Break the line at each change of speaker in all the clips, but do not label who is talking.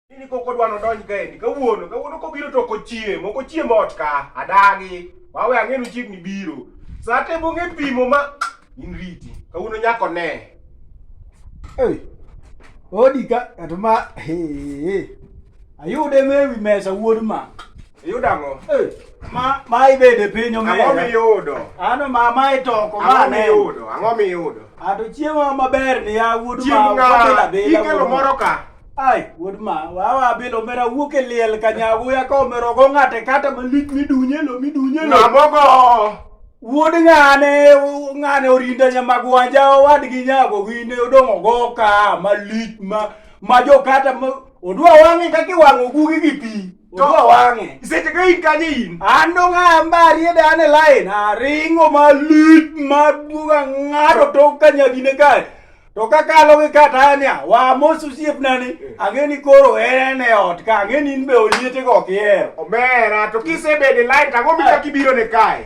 Ini koko dwa nodonj kaendi kawuono kawuono kobiro to kochiem ok ochiem ot ka adagi wawe ang'e nochiegni biro saa te bong'e pimo ma in riti kawuono nyako ne Ei,
odi ka kata ma he, he. ayude mewi mesa wuod ma Iyudo ang'o? Eh,
ma ma
ibede piny omera. Ang'o miyudo?
Ano ma ma
itoko ma ne. Ang'o miyudo? Ang'o miyudo?
Ato chiemo
maber ni ya wuod ma. Chiemo ng'a?
Ikelo moro ka. Ai, wuod ma,
wawa abilo mera wuok e liel ka nyagu ya ka omero go ng'ate kata malit midunye lo midunye lo. Nabogo.
Wuod
ng'ane ng'ane orinda nyamagwanja owadgi nyago gine odong' ogo ka malit ma ma jo kata ma odwa wang'e kaka iwang'o gugi gi pi Jogo wang'e. Seche ka in kanye
in? An dong' ambari
e dane line. Aringo malich maduong' ang'ado tok ka nyagine kae. To kakalo gi Katania, wamos osiepna ni, eh. ang'e ni koro en e ot ka, ang'e ni in be oliete go kihero. Omera, to
kisebedo e line, tang'o mi kaka ibiro ne kae?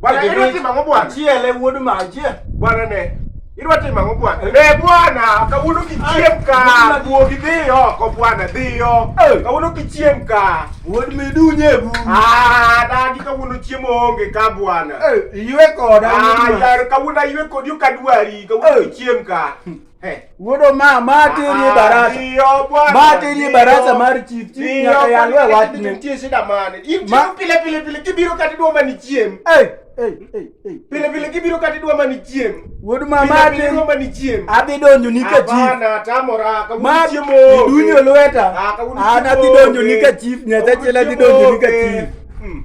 Bwana, idwa timo
ang'o bwana? Chiele wuod majie.
Bwana ne.
Idwa timo ang'o bwana? Eh. Ne bwana, kawuono kichiem ka. Wuogi dhi oko bwana, dhi oko. Eh. Kawuono kichiem ka. Wuod midunye
bu. Ah, dagi
kawuono chiemo onge ka bwana. Eh, iwe koda.
Ah, yar kawuono
iwe kodi okadwari, kawuono kichiem ka. Hey. Wuodo ma
ma tiri ah, ah, barasa. Ma tiri barasa mar chief chief nyaka yalwe wachne. Nitie shida mane?
Ichiro pile pile pile kibiro kati dwa mani chiem. Hey. Hey, hey, hey. Pile pile kibiro kati dwa mani chiem. Wuod ma ma
tiri dwa mani chiem.
Adhi donjo ni ka
chief. Abana tamora
ka wuod chiemo. Dunyo lweta.
Ah, Ana dhi donjo ni ka chief. Nyasaye chela dhi donjo ni ka chief. Hmm.